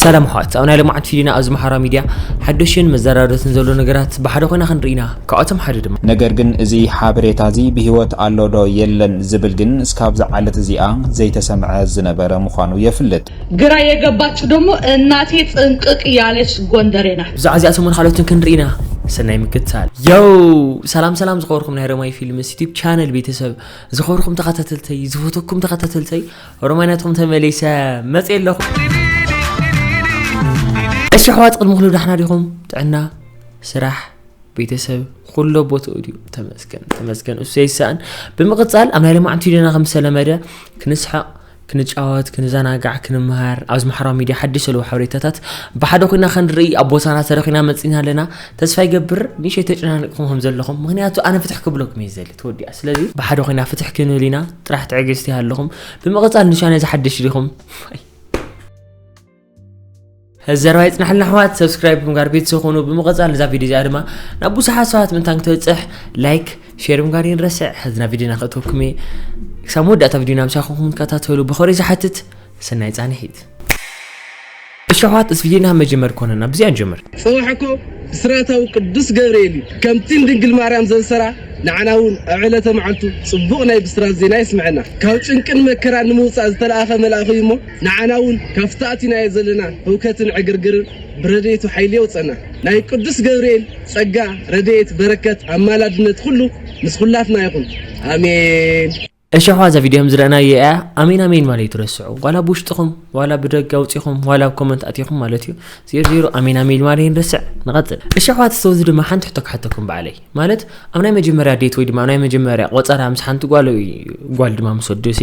ሰላም ኣሕዋት ኣብ ናይ ልምዓት ፊሊና ኣብዚ መሓራ ሚድያ ሓደሽን መዘራረትን ዘሎ ነገራት ብሓደ ኮይና ክንርኢና ካብኣቶም ሓደ ድማ ነገር ግን እዚ ሓበሬታ እዚ ብህይወት ኣሎ ዶ የለን ዝብል ግን እስካብዚ ዓለት እዚኣ ዘይተሰምዐ ዝነበረ ምዃኑ የፍልጥ። ግራ የገባችሁ ደሞ እናቴ ጥንቅቅ ያለች ጎንደሬ ናት። ብዛዕባ እዚኣ ሰሙን ካልኦትን ክንርኢና ሰናይ ምክትታል። ዮው ሰላም ሰላም ዝኸበርኩም ናይ ረማይ ፊልምስ ዩቲብ ቻነል ቤተሰብ ዝኸብርኩም ተኸታተልተይ ዝፈተኩም ተኸታተልተይ ሮማናቶም ተመሊሰ መፅ ኣለኹ እሺ ኣሕዋት ቅድሚ ኩሉ ዳሕና ዲኹም ጥዕና ስራሕ ቤተሰብ ኩሎ ቦትኡ ድዩ ተመስገን ተመስገን እሱ ይሰኣን ብምቕፃል ኣብ ናይ ለማዕንቲ ዲና ከም ዝተለመደ ክንስሐቕ ክንጫወት ክንዘናጋዕ ክንመሃር ኣብዚ ማሕበራዊ ሚድያ ሓድሽ ዘለዉ ሓበሬታታት ብሓደ ኮይና ክንርኢ ኣብ ቦታና ተረኺና መፂና ኣለና ተስፋ ይገብር ንእሸይ ተጨናኒቕኹም ከም ዘለኹም ምክንያቱ ኣነ ፍትሕ ክብለኩም እየ ዘሊ ተወዲኣ ስለዚ ብሓደ ኮይና ፍትሕ ክንብል ኢና ጥራሕ ትዕግስቲ ኣለኹም ብምቕፃል ንሻ ነዚ ሓድሽ ዲኹም እዚ ዘረባ ይጽናሕልና ኣሕዋት ሰብስክራይብ ብምጋር ቤተሰብ ኾኑ ብምቐጻል እዛ ቪድዮ እዚኣ ድማ ናብ ብዙሓት ሰባት ምንታን ክትበጽሕ ላይክ ሼር ምጋር ይንረስዕ ሕዝና ቪድዮና ክእተወኩም እየ ክሳብ መወዳእታ ቪድዮና ምሳኹም ከታተሉ ብኸሪ ዝሓትት ሰናይ ጻንሒት እሺ ኣሕዋት እዚ ቪድዮና መጀመር ኮነና ብዚኣ ንጀምር ጽባሕኮ ስራታዊ ቅዱስ ገብርኤል እዩ ከምቲ ንድንግል ማርያም ዘንሰራ ንዓና እውን ኣብ ዕለተ መዓልቱ ጽቡቕ ናይ ብስራት ዜና የስምዐና ካብ ጭንቅን መከራን ንምውፃእ ዝተለኣኸ መልኣኽ እዩ እሞ ንዓና እውን ካብቲ ኣቲናዮ ዘለና ህውከትን ዕግርግርን ብረድኤቱ ሓይሊ የውጸና። ናይ ቅዱስ ገብርኤል ጸጋ ረድኤት በረከት ኣማላድነት ኩሉ ምስ ኩላትና ይኹን ኣሜን። እሺ ኣሕዋት እዛ ቪድዮ ከምዝረእናዮ እያ ኣሜን ኣሜን ማለት ኣይትረስዑ ዋላ ብውሽጥኹም ዋላ ብደገ ኣውጺኹም ዋላ ኣብ ኮመንት ኣቲኹም ማለት እዩ ዜሮ ዜሮ ኣሜን ኣሜን ማለት ይንርስዕ ንቐጽል እሺ ኣሕዋት ሰውዚ ድማ ሓንቲ ሕቶ ክሓተኩም በዓለይ ማለት ኣብ ናይ መጀመርያ ዴት ወይ ድማ ኣብ ናይ መጀመርያ ቆጸራ ምስ ሓንቲ ጓል ጓል ድማ ምስ ወድሲ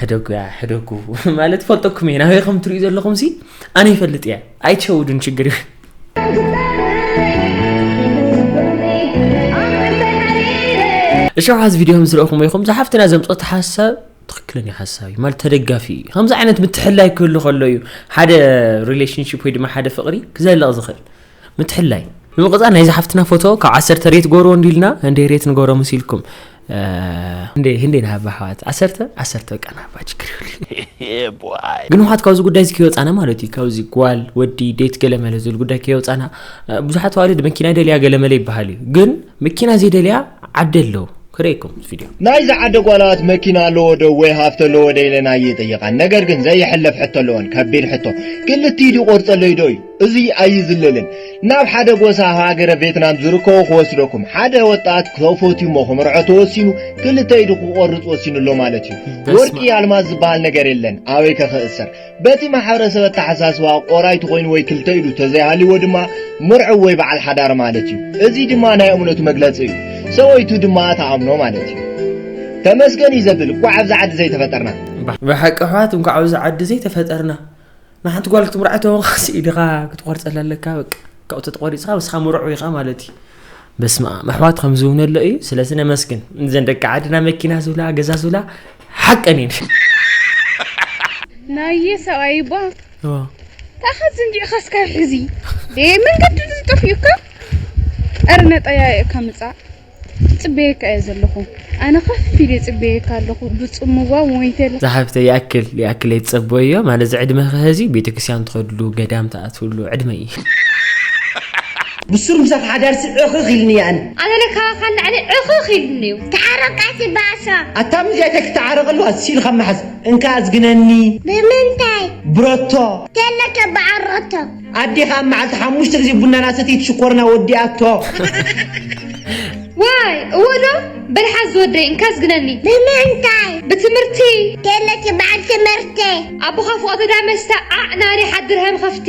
ሕደጉያ ሕደጉ ማለት ፈልጠኩም እየ ናበይ ከም ትሪኡ ዘለኹም ሲ ኣነ ይፈልጥ እያ ኣይትሸውዱን ችግር እዩ እሸውሓዝ ቪድዮ ምስረእኹም ይኹም ዝሓፍትና ዘምፀት ሓሳብ ትክክለኛ ሓሳብ እዩ ማለት ተደጋፊ እዩ ከምዚ ዓይነት ምትሕላይ ክህሉ ከሎ እዩ ሓደ ሪሌሽንሽፕ ወይ ድማ ሓደ ፍቅሪ ክዘልቕ ዝኽእል ምትሕላይ ንምቅጻል ናይዛ ሓፍትና ፎቶ ካብ ዓሰርተ ሬት ጎርዎ እንዲልና እንዴ ሬት ንጎሮ መሲልኩም እንዴ ህንዴ ናሃባ ኣሕዋት ዓሰርተ ዓሰርተ በቃ ናሃባ ችግር ይብሉ ግን ውሓት ካብዚ ጉዳይ እዚ ከይወፃና ማለት እዩ ካብዚ ጓል ወዲ ዴት ገለመለ ዝብል ጉዳይ ከይወፃና ብዙሓት ኣዋልድ መኪና ደልያ ገለመለ ይበሃል እዩ ግን መኪና ዘይደልያ ዓዲ ኣሎ ክርእየኩም እዚ ቪድዮ ናይ ዝዓዲ ጓላት መኪና ኣለዎ ዶ ወይ ሃፍቲ ኣለዎ ዶ ኢለን ኣይጥይቃን ነገር ግን ዘይሕለፍ ሕቶ ኣለወን ከቢድ ሕቶ ክልቲኢድ ይቆርጸለይ ዶ እዩ እዚ ኣይዝለልን ናብ ሓደ ጎሳ ሃገረ ቬትናም ዝርከቡ ክወስደኩም ሓደ ወጣት ተፈትዩ እሞ ክምርዖ ተወሲኑ ክልተ ኢዱ ክቆርጽ ወሲኑ ኣሎ ማለት እዩ ወርቂ ኣልማዝ ዝበሃል ነገር የለን ኣበይ ከክእሰር በቲ ማሕበረሰብ ኣተሓሳስባ ቆራይቱ ኮይኑ ወይ ክልተ ኢዱ ተዘይሃልይዎ ድማ ምርዑው ወይ በዓል ሓዳር ማለት እዩ። እዚ ድማ ናይ እምነቱ መግለጺ እዩ። ሰበይቱ ድማ ትኣምኖ ማለት እዩ። ተመስገን እዩ ዘብል እኳዕ ኣብዚ ዓዲ ዘይተፈጠርና። ብሓቂ ኣሕዋት እንኳዕ ኣብዚ ዓዲ ዘይተፈጠርና ንሓንቲ ጓል ክትምርዓ ተወኻሲ ኢድኻ ክትቆርፀላ ኣለካ በቃ ካብኡ ተተቆሪፅካ ምስኻ ምርዑ ኢኻ ማለት እዩ በስመኣም ኣሕዋት ከምዚ እውን ኣሎ እዩ ስለዚ ነመስግን እዘን ደቂ ዓድና መኪና ዝብላ ገዛ ዝብላ ሓቀን እየን ናየ ሰብኣይ እባ ታኻ ዝንጊዕኻ እስካ ሕዚ መንገዲ ዝጠፍኡካ ኣረ ነጠያየእካ ምፃእ ፅበየካ እየ ዘለኹ ኣነ ከፍ ኢለ ጽበየካ ኣለኹ ብጽምዋ ወንጌል። ዛሓፍተይ ይኣክል ይኣክል ኣይትፀበይዮ ማለት ዝዕድመኪ ሀዚ ቤተክርስትያን ትከድሉ ገዳም ትኣትውሉ ዕድመ እዩ። ብሱር ምሳኽ ሓዳር ሲ ዕኽኽ ኢልኒ እየ ኣነ። ኣነ ለ ካባካ ንላዕሊ ዕኽኽ ኢሉኒ እዩ። ተሓረቃቲ ባእሳ። ኣታ ምስ ያታይ ክትዓረቅ ኣለዋ እሲ ኢልካ ማሓዝ። እንካ ኣዝግነኒ። ብምንታይ። ብሮቶ። ተለከ ብዓል ሮቶ። ኣዴኻ ኣብ መዓልቲ ሓሙሽተ ግዜ ቡና እናሰተይት ሽኮርና ወዲኣቶ። ዋይ እወ ዶ በል ሓዝ ዝወደይ እንካ ኣዝግነኒ። ብምንታይ ብትምህርቲ ገለኪ በዓል ትምህርቲ። ኣቦኻ ፍቆተ ዳ መስተ ዓዕ ናሪ ሓድር ሃም ኸፍቲ።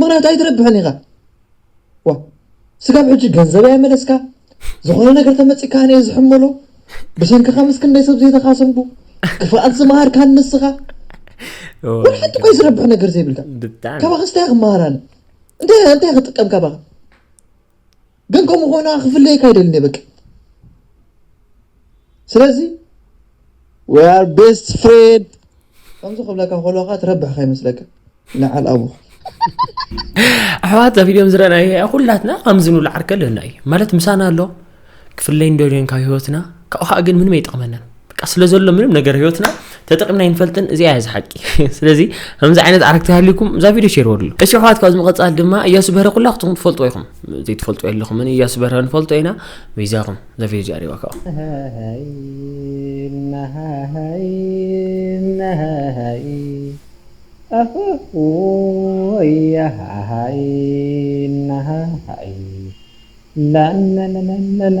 ምክንያቱ ኣይትረብሕን ኢኻ ዋ ስጋብ ሕጂ ገንዘብ ኣይመለስካ ዝኾነ ነገር ተመፂካ ኣነ ዝሕመሎ ብሰንክኻ ምስ ክንደይ ሰብ ዘይተኻሰምኩ ክፍኣት ዝመሃርካ ንስኻ ወላ ሓንቲ ቆይ ዝረብሕ ነገር ዘይብልካ ካባኸ ስታይ ክመሃር ኣነ እንታይ እንታይ ክጥቀም ካባኸ ግን ከምኡ ኮይና ክፍለየካ ኣይደልን እየ በቃ ስለዚ we are best friend ከምዚ ክብለካ ከለካ ትረብሕ ከይመስለካ ንዓል ኣቡኹ ኣሕዋት ኣብ ቪድዮም ዝረኣናዮ ኩላትና ከምዚ ንብሎ ዓርከ ኣለና እዩ ማለት ምሳና ኣሎ ክፍለይ እንዶ ካብ ህይወትና ካብኡ ከዓ ግን ምንም ኣይጠቕመናን በቃ ስለ ዘሎ ምንም ነገር ህይወትና ተጠቂምና ይንፈልጥን እዚኣ እያ ዝሓቂ ስለዚ ከምዚ ዓይነት ኣረግቲ ሃልዩኩም እዛ ቪድዮ ሸር ወድሉ እሺ ኣሕዋት ካብዚ ምቐፃል ድማ እያሱ በረ ኩላ ክትኹም ትፈልጥዎ ኢኹም ዘይትፈልጡ የለኹምን እያሱ በረ ንፈልጦ ኢና በይዛኹም እዛ ቪድዮ እዚኣ ሪዋ ከዓ ላላላላላ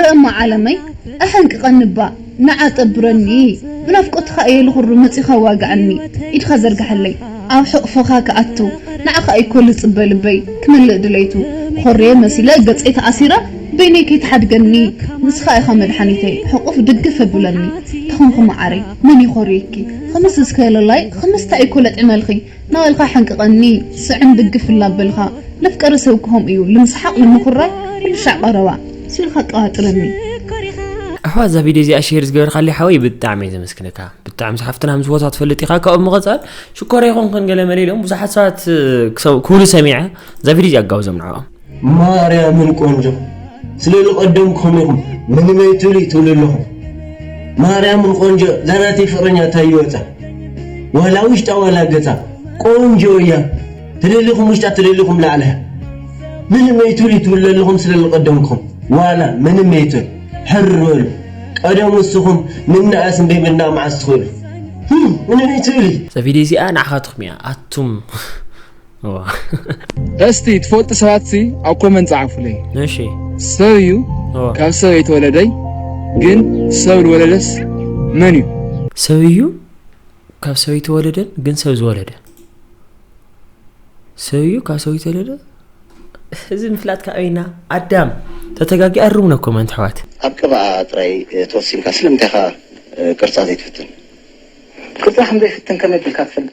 ርእማ ዓለመይ ኣሐንቅቀኒ እባ ንዓ ጠብረኒ ብናፍቆትካ እየ ልኩርም መጺካ ኣዋግኣኒ ኢድካ ዘርግሐለይ ኣብ ሕቅፎካ ክኣቱ ንዓካ እዩ እኮ ልጽበ ልበይ ክመልእ ድሌቱ ኮርየ መሲለ ገጸይ ተኣሲረ በይነይ ከይትሓድገኒ ንስካ ኢካ መድሓኒተይ ሕቁፍ ድግፍ ኣብለኒ ተኮንኪ ማዓረይ መን ይኮርየኪ ከመስ እስከ ለላይ ከመስ ታይ እኮ ለጥዕመልኪ ናበልካ ሕንቅቀኒ ስዕን ድግፍ እላበልካ መፍቀሪ ሰብ ክከም እዩ ልምስሓቅ ልምኩራይ ኩልሻዕ ቀረባ ስእልካ ኣቀባጥረኒ። ኣሕዋት እዛ ቪድዮ እዚኣ ሼር ዝገበርካለይ ሓወይ ብጣዕሚ እየ ዘመስግነካ ብጣዕሚ ሓፍትና ምስ ቦታ ትፈልጥ ኢኻ ካብኡ ምቐፃል ሽኮር ይኹንክን ገለ መለ ኢሎም ብዙሓት ሰባት ክብሉ ሰሚዐ እዛ ቪድዮ እዚኣ ኣጋብዞም ንዕኦም ማርያምን ቆንጆ ስለ ልቀደምኩም ኢኹም ምንመይ ትብሊ ትብሉ ኣለኹም ማርያምን ቆንጆ ዛናተይ ፍቅረኛ ታይ ይወፃ ዋላ ውሽጣ ዋላ ገፃ ቆንጆ እያ ትደሊኹም ውሽጣ ትደሊኹም ላዕላ ምንመይ ትብሊ ትብሉ ኣለኹም ስለ ልቀደምኩም ዋላ ምንመይ ትብል ሕር በሉ ቀደም ውስኹም ምናኣስ እንበይ ምና መዓስ ትኽእሉ ምንመይ ትብሊ ቪዲዮ እዚኣ ንዓኻትኩም እያ ኣቱም እስቲ ትፈልጡ ሰባት ሲ ኣብ ኮመንት ጻዕፉለይ። እሺ ሰብ እዩ ካብ ሰብ የተወለደይ ግን ሰብ ዝወለደስ መን እዩ? ሰብ እዩ ካብ ሰብ የተወለደን ግን ሰብ ዝወለደ ሰብ እዩ ካብ ሰብ የተወለደ እዚ ምፍላጥ ካበይና ኣዳም ተተጋጊ ኣርሙና ኮመንት ኣሕዋት ኣብ ቅብኣ ጥራይ ተወሲንካ ስለምንታይ ኢኻ ቅርጻ ዘይትፍትን ቅርጻ ከም ዘይፍትን ከመይ ኣቢልካ ትፈልጥ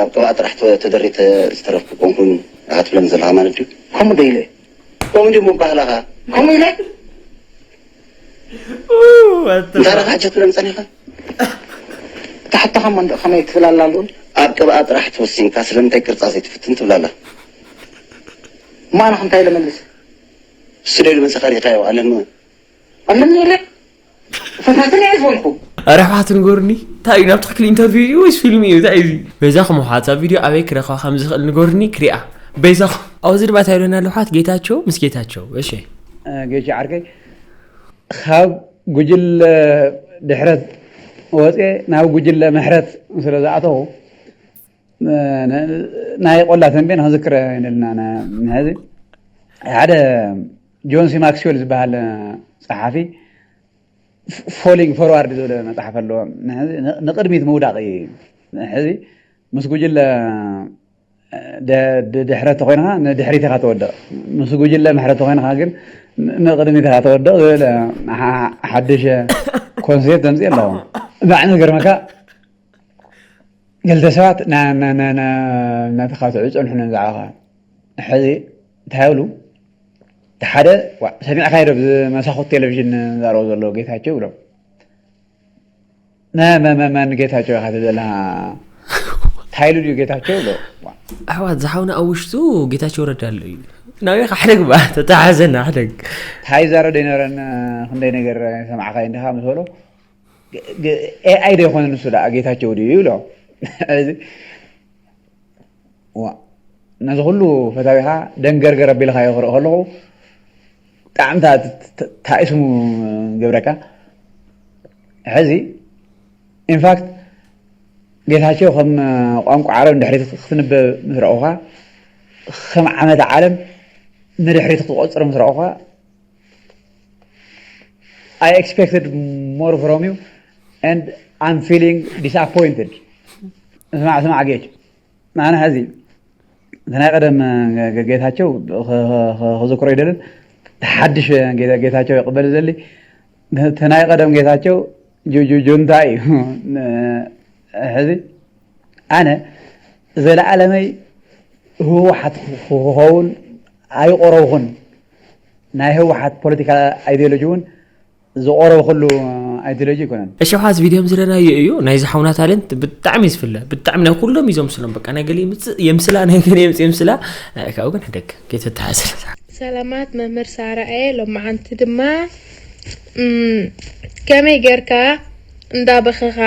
ኣብ ቅብኣ ጥራሕ ተደሪተ ዝተረፍኩ ኮንኩ ዳኻ ትብለኒ ዘለኻ ማለት ድዩ? ከምኡ ዶ ኢለ? ከምኡ ድዩ ምባህላኻ? ከምኡ ኢለ? እንታይ ዳኻ ሕጂ ትብለኒ ጸኒሕካ? እታ ሕቶኻ እሞ እንድዒ ከመይ ትብል ኣላ ልኡል? ኣብ ቅብኣ ጥራሕ ተወሲንካ ስለምንታይ ቅርጻ ዘይትፍትን ትብል ኣላ? እሞ ኣነኸ እንታይ ኢለ መልሰ? ስደዱ መጸኻ ሪኢኻዮ ኣለኒ ኣለኒ ኢለ? ፈታትን እየ ዝኾንኩ። ኣረ ኣሕዋት ንገሩኒ ታይ እዩ ናብ ትክክል ኢንተርቪው እዩ ወይስ ፊልም እዩ ታይ እዚ በይዛኹም ኣሕዋት እዛ ቪድዮ ኣበይ ክረኽባ ከም ዝኽእል ንገሩኒ ክሪኣ በይዛኹም ኣብዚ ድማ ታይ ይብለና ኣሎ ኣሕዋት ጌታቸው ምስ ጌታቸው እሺ ጌች ዓርከይ ካብ ጉጅለ ድሕረት ወፅየ ናብ ጉጅለ ምሕረት ስለ ዝኣተኹ ናይ ቆላ ተምቤን ክንዝክር ኢና ኢልና ንሕዚ ሓደ ጆን ሲ ማክስዌል ዝበሃል ጸሓፊ ፎሊንግ ፎርዋርድ ዝብል መጽሓፍ ኣለዎ ንቕድሚት ምውዳቕ እዩ ሕዚ ምስ ጉጅለ ድሕረ ተኮይንካ ንድሕሪት ኢኻ ተወድቕ ምስ ጉጅለ ምሕረ ተኮይንካ ግን ንቕድሚት ኢኻ ተወድቕ ዝብል ሓድሽ ኮንሴፕት ዘምፅእ ኣለዎ ባዕ ዝገርመካ ክልተ ሰባት እናተኻትዑ ይፀንሑ ነንባዕልኻ ሕዚ እንታይ ይብሉ እቲ ሓደ ሰሚዕካዮ ዶ ብመሳኹት ቴሌቭዥን ዝዛረቦ ዘሎ ጌታቸው ይብሎም መመመን ጌታቸው ኢኻ ትብል ዘለኻ እንታይ ኢሉ ድዩ ጌታቸው ይብሎ ኣሕዋት ዝሓውና ኣብ ውሽጡ ጌታቸው ረዳ ኣሎ እዩ ናበይ ሓደግ ባ ተተሓዘና ሓደግ እንታይ ይዛረብ ዘይነበረን ክንደይ ነገር ሰማዕካዮ እንዲኻ ምስ በሎ ኤኣይ ዶ ይኮን ንሱ ደኣ ጌታቸው ድዩ ይብሎ ነዚ ኩሉ ፈታዊኻ ደንገርገር ኣቢልካዮ ክርኢ ከለኹ ብጣዕሚ ታእስሙ ገብረካ ሕዚ ኢንፋክት ጌታቸው ከም ቋንቋ ዓረብ ንድሕሪት ክትንበብ ምስ ረእኹካ ከም ዓመት ዓለም ንድሕሪት ክትቆፅር ምስ ረእኹካ I expected more from you and I'm feeling disappointed. ስማዕ ስማዕ ጌች ንኣና ሕዚ እቲ ናይ ቀደም ጌታቸው ክዝክሮ ይደልን ሓድሽ ጌታቸው ይቕበል ዘሊ እቲ ናይ ቀደም ጌታቸው ጁንታ እዩ ሕዚ ኣነ ዘለዓለመይ ህወሓት ክኸውን ኣይቆረብኹን ናይ ህወሓት ፖለቲካል ኣይድዮሎጂ እውን ዝቆረብኹሉ ኣይድዮሎጂ ኣይኮነን። እሺ ሓዝ ቪድዮም ዝረናዮ እዩ ናይዚ ሓውና ታለንት ብጣዕሚ እዩ ዝፍለ ብጣዕሚ ናይ ኩሎም እዩ ዘምስሎም በቃ ናይ ገለ ይምፅእ የምስላ ናይ ገለ የምፅእ የምስላ ናይ ካብኡ ግን ሕደግ ከይተተሓስረ ሰላማት መምህር ሳራኤ ሎማዓንቲ ድማ ከመይ ጌርካ እንዳበኸኻ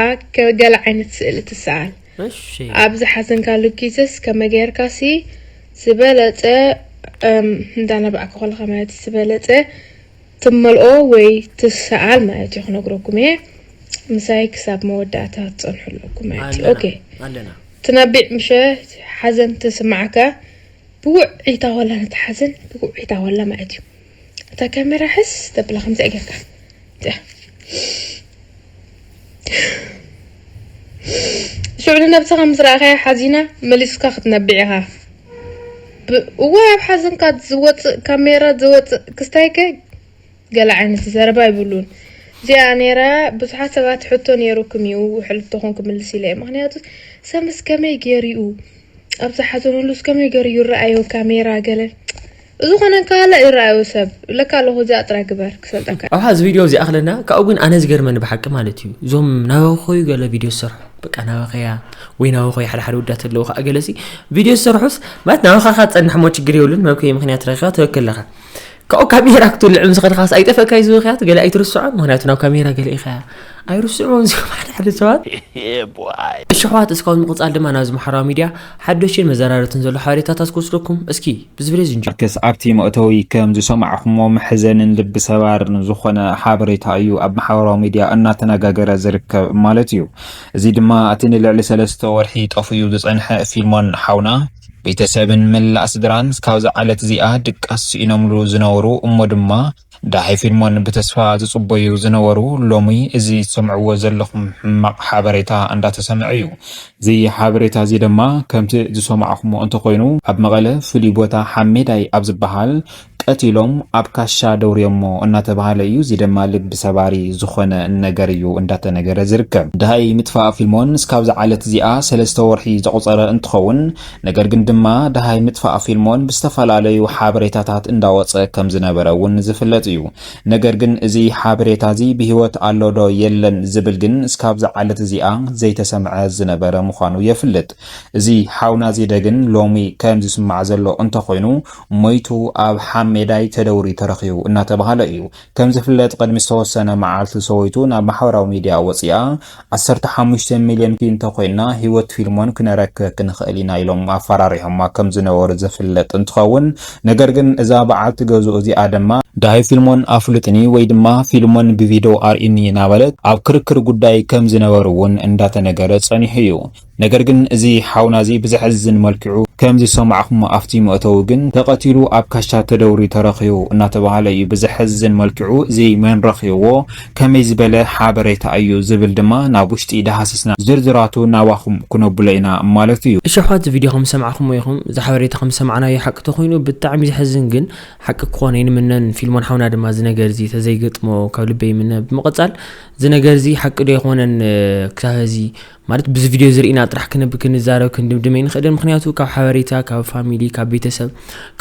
ገለ ዓይነት ስእሊ ትስኣል እሺ። ኣብ ዝሓዘንካሉ ጊዘስ ከመይ ገይርካ ሲ ዝበለጸ እንዳ ነባዕካ ኮለኻ ማለት እዩ ዝበለጸ ትመልኦ ወይ ትሰኣል ማለት እዩ ክነግረኩም እየ ምሳይ ክሳብ መወዳእታ ትጸንሑ ኣለኩም ማለት እዩ ኦኬ ኣለና ኣለና። ትነቢዕ ምሸ ሓዘን ተስማዓካ ብውዕኢታ ወላ ነቲ ሓዘን ብውዕኢታ ወላ ማለት እዩ እታ ካሜራ ሕዝ ተብላ ከምዚኣ ጌርካ እዚኣ ሽዑ ንነብስኻ ምስ ረኣኻያ ሓዚና መሊስካ ክትነብዕ ኢኻ እወ ኣብ ሓዘንካ ዝወፅእ ካሜራ ዝወፅእ ክስታይከ ገለ ዓይነት ዘረባ ይብሉን እዚኣ ነይራ ብዙሓት ሰባት ሕቶ ነይሩኩም እዩ ሕልፍቶኹም ክምልስ ኢለ ምክንያቱ ሰምስ ከመይ ገይሩ እዩ ኣብ ዝሓዘኑሉስ ከመይ ገሩ ይረኣዮ ካሜራ ገለ ዝኾነ እንካሃለ ይረኣዮ ሰብ ለካ ኣለኹ እዚኣ ጥራይ ግበር ክሰልጠካ እየ። ኣብሓዚ ቪድዮ ዚኣኽለና ካብኡ ግን ኣነ ዝገርመኒ ብሓቂ ማለት እዩ እዞም ናበኸዩ ገለ ቪድዮ ዝሰርሑ በቃ ናበኸያ ወይ ናበኸዩ ሓደ ሓደ ወዳት ኣለዉ ከኣ ገለሲ ቪድዮ ዝሰርሑስ ማለት ናበኻኻ ትጸንሕሞ ችግር የብሉን መብከዩ ምኽንያት ረኺባ ትበኪ ኣለኻ ካብኡ ካሜራ ክትውልዕ ምስ ኸድካስ ኣይጠፈእካይ ዝውክያት ገለ ኣይትርስዖን ምክንያቱ ናብ ካሜራ ገለ ኢኻያ ኣይርስዕዎን እዚኦም ሓደ ሓደ ሰባት እሺ ኣሕዋት እስካብ ምቕፃል ድማ ናብዚ ማሕበራዊ ሚድያ ሓደሽን መዘራረትን ዘሎ ሓበሬታታት ክወስደኩም እስኪ ብዝብለ ዝንጀ ኣርክስ ኣብቲ መእተዊ ከም ዝሰማዕኹሞ መሕዘንን ልቢ ሰባርን ዝኾነ ሓበሬታ እዩ ኣብ ማሕበራዊ ሚድያ እናተነጋገረ ዝርከብ ማለት እዩ። እዚ ድማ እቲ ንልዕሊ ሰለስተ ወርሒ ጠፍኡ ዝጸንሐ ፊልሞን ሓውና፣ ቤተሰብን መላእ ስድራን እስካብዛ ዓለት እዚኣ ድቃስ ስኢኖምሉ ዝነበሩ እሞ ድማ ዳሐይ ፊልሞን ብተስፋ ዝጽበዩ ዝነበሩ ሎሚ እዚ ትሰምዕዎ ዘለኹም ሕማቕ ሐበሬታ እንዳተሰምዐ እዩ። እዚ ሐበሬታ እዚ ድማ ከምቲ ዝሰማዕኹሞ እንተኾይኑ ኣብ መቐለ ፍሉይ ቦታ ሐሜዳይ ኣብ ዝባሃል፣ ቀቲሎም ኣብ ካሻ ደውርዮሞ እናተብሃለ እዩ እዚ ደማ ልቢ ሰባሪ ዝኾነ ነገር እዩ እንዳተነገረ ዝርከብ ድሃይ ምጥፋእ ፊልሞን እስካብ ዝዓለት እዚኣ ሰለስተ ወርሒ ዘቁጸረ እንትኸውን ነገር ግን ድማ ድሃይ ምጥፋእ ፊልሞን ብዝተፈላለዩ ሓበሬታታት እንዳወጸ ከም ዝነበረ እውን ዝፍለጥ እዩ ነገር ግን እዚ ሓበሬታ እዚ ብሂወት ኣሎ ዶ የለን ዝብል ግን እስካብ ዝዓለት እዚኣ ዘይተሰምዐ ዝነበረ ምዃኑ የፍልጥ እዚ ሓውና ዜደ ግን ሎሚ ከም ዝስማዕ ዘሎ እንተኾይኑ ሞይቱ ኣብ ሓሜዳይ ተደውሪ ተረኺቡ እናተብሃለ እዩ። ከምዝፍለጥ ቅድሚ ዝተወሰነ መዓልቲ ሰበይቱ ናብ ማሕበራዊ ሚድያ ወፂኣ ዓሰርተ ሓሙሽተ ሚልዮን ኪንተኮይንና ህይወት ፊልሞን ክነረክብ ክንኽእል ኢና ኢሎም ኣፋራሪሖማ ከምዝነበሩ ዝፍለጥ እንትኸውን ነገር ግን እዛ በዓልቲ ገዝኡ እዚኣ ድማ ዳሃይ ፊልሞን ኣፍሉጥኒ ወይ ድማ ፊልሞን ብቪዶ ኣርእዩኒ እናበለት ኣብ ክርክር ጉዳይ ከምዝነበሩ እውን እንዳተነገረ ፀኒሑ እዩ። ነገር ግን እዚ ሓውና እዚ ብዘሕዝን መልክዑ ከም ዝሰማዕኩሞ ኣፍቲ መእተዊ ግን ተቀቲሉ ኣብ ካሻ ተደውርዩ ተረኪቡ እናተባሃለ እዩ ብዘሕዝን መልክዑ እዚ መን ረኪብዎ ከመይ ዝበለ ሓበሬታ እዩ ዝብል ድማ ናብ ውሽጢ ዳሃስስና ዝርዝራቱ ናባኩም ክነብሎ ኢና ማለት እዩ። እሺ ኣሕዋት እዚ ቪድዮ ከም ዝሰማዕኩሞ ኢኩም እዚ ሓበሬታ ከም ዝሰማዕናዮ ሓቂ ተኮይኑ ብጣዕሚ ዘሕዝን ግን ሓቂ ክኮነ ይንምነን ፊልሞን ሓውና ድማ እዚ ነገር እዚ ተዘይገጥሞ ካብ ልበይ ይምነ ብምቅጻል እዚ ነገር እዚ ሓቂ ዶ ኣይኮነን ክሳብ ሀዚ ማለት ብዚ ቪድዮ እዚ ርኢና ጥራሕ ክንብ ክንዛረብ ክንድምድም ኣይንኽእልን ምኽንያቱ ካብ ሓበሬታ ካብ ፋሚሊ ካብ ቤተሰብ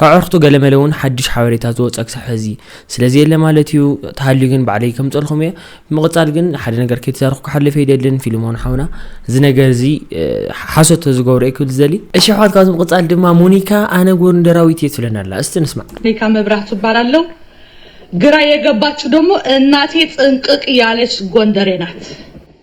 ካብ ኣዕርኽቱ ገለመለ እውን ሓድሽ ሓበሬታ ዝወፀ ክሳብ ሕዚ ስለ ዘየለ ማለት እዩ ተሃልዩ ግን ባዕለይ ከምፀልኹም እየ ብምቕፃል ግን ሓደ ነገር ከይተዛረኹ ክሓልፍ ኣይደልን ፊልሞን ሓውና እዚ ነገር እዚ ሓሶት ዝገብሮ እየ ክብል ዝደሊ እሺ ኣሕዋት ካብዚ ምቕፃል ድማ ሞኒካ ኣነ ጎንደራዊት እየ ትብለና ኣላ እስቲ ንስማዕ ሞኒካ መብራህቱ እባላለሁ ግራ የገባችሁ ደግሞ እናቴ ጥንቅቅ ያለች ጎንደሬ ናት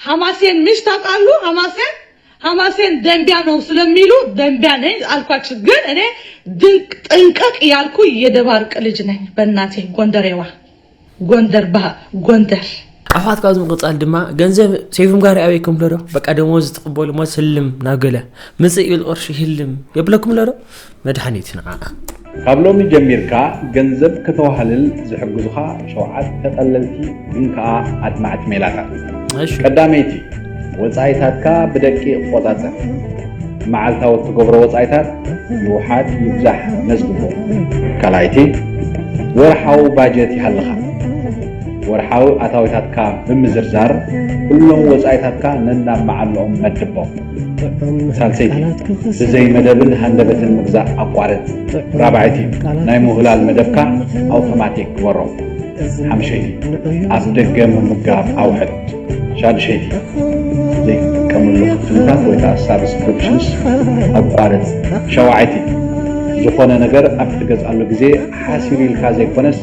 ሐማሴን ምሽ ታቃሉ ሐማሴን ሐማሴን ደንቢያ ነው ስለሚሉ ደንቢያ ነኝ አልኳችሁ ግን እኔ ድንቅ ጥንቅቅ ያልኩ የደባርቅ ልጅ ነኝ በእናቴ ጎንደሬዋ ጎንደር ባ ጎንደር ኣሕዋት ካብ ዝምቕፃል ድማ ገንዘብ ሴፍም ጋር ኣበይኩም ለዶ በቃ ደሞዝ ትቕበሉ ሞ ስልም ናብ ገለ ምፅእ ይብል ቅርሺ ህልም የብለኩም ለዶ መድሓኒት ንዓኣ። ካብ ሎሚ ጀሚርካ ገንዘብ ከተዋህልል ዝሕግዙኻ ሸውዓተ ቀለልቲ ግን ከኣ ኣድማዕቲ ሜላታት። እሺ። ቀዳመይቲ፣ ወጻኢታትካ ብደቂቕ ቆጻጸር። መዓልታዊ እትገብሮ ወጻኢታት ይውሓድ ይብዛሕ መዝግቦ። ካልኣይቲ፣ ወርሓዊ ባጀት ይሃልኻ። ወርሓዊ ኣታዊታትካ ብምዝርዛር ኩሎም ወጻኢታትካ ነናብ መዓልኦም መድቦም። ሳልሰይቲ ብዘይ መደብን ሃንደበትን ምግዛእ ኣቋርጽ። ራብዐይቲ ናይ ምውህላል መደብካ ኣውቶማቲክ ግበሮ። ሓምሸይቲ ኣብ ደገ ምምጋብ ኣውሕድ። ሻድሸይቲ ዘይትጥቀመሉ ክፍልታት ወይ ከዓ ሳብስክሪፕሽንስ ኣቋርጽ። ሸውዓይቲ ዝኾነ ነገር ኣብ እትገዝኣሉ ግዜ ሓሲሩ ኢልካ ዘይኮነስ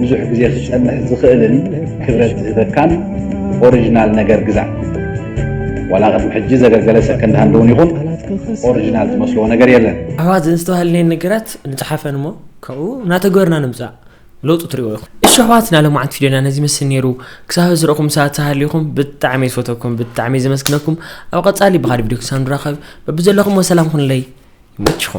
ብዙሕ ግዜ ክጸንሕ ዝኽእልን ክብረት ዝህበካን ኦሪጅናል ነገር ግዛእ። ዋላ ቅድሚ ሕጂ ዘገልገለ ሰከንድ ሃንድ እውን ይኹን ኦሪጂናል ዝመስልዎ ነገር የለን። ኣሕዋት ዘዝተባህልኔን ነገራት ንጽሓፈን እሞ ካብኡ እናተግበርና ንምጻእ ለውጢ ትሪእዎ ኢኹም። እሺ ኣሕዋት ናይ ሎምዓንቲ ቪድዮና ነዚ ይመስል ነይሩ። ክሳብ ሕዚ ዝረእኹም ሰባት ተሃሊኹም ብጣዕሚ እየ ዝፈተኩም ብጣዕሚ እየ ዘመስግነኩም። ኣብ ቀጻሊ ብኻልእ ቪድዮ ክሳብ ንራኸብ በብዘለኹምዎ ሰላም ኩኑለይ ይመችኹም።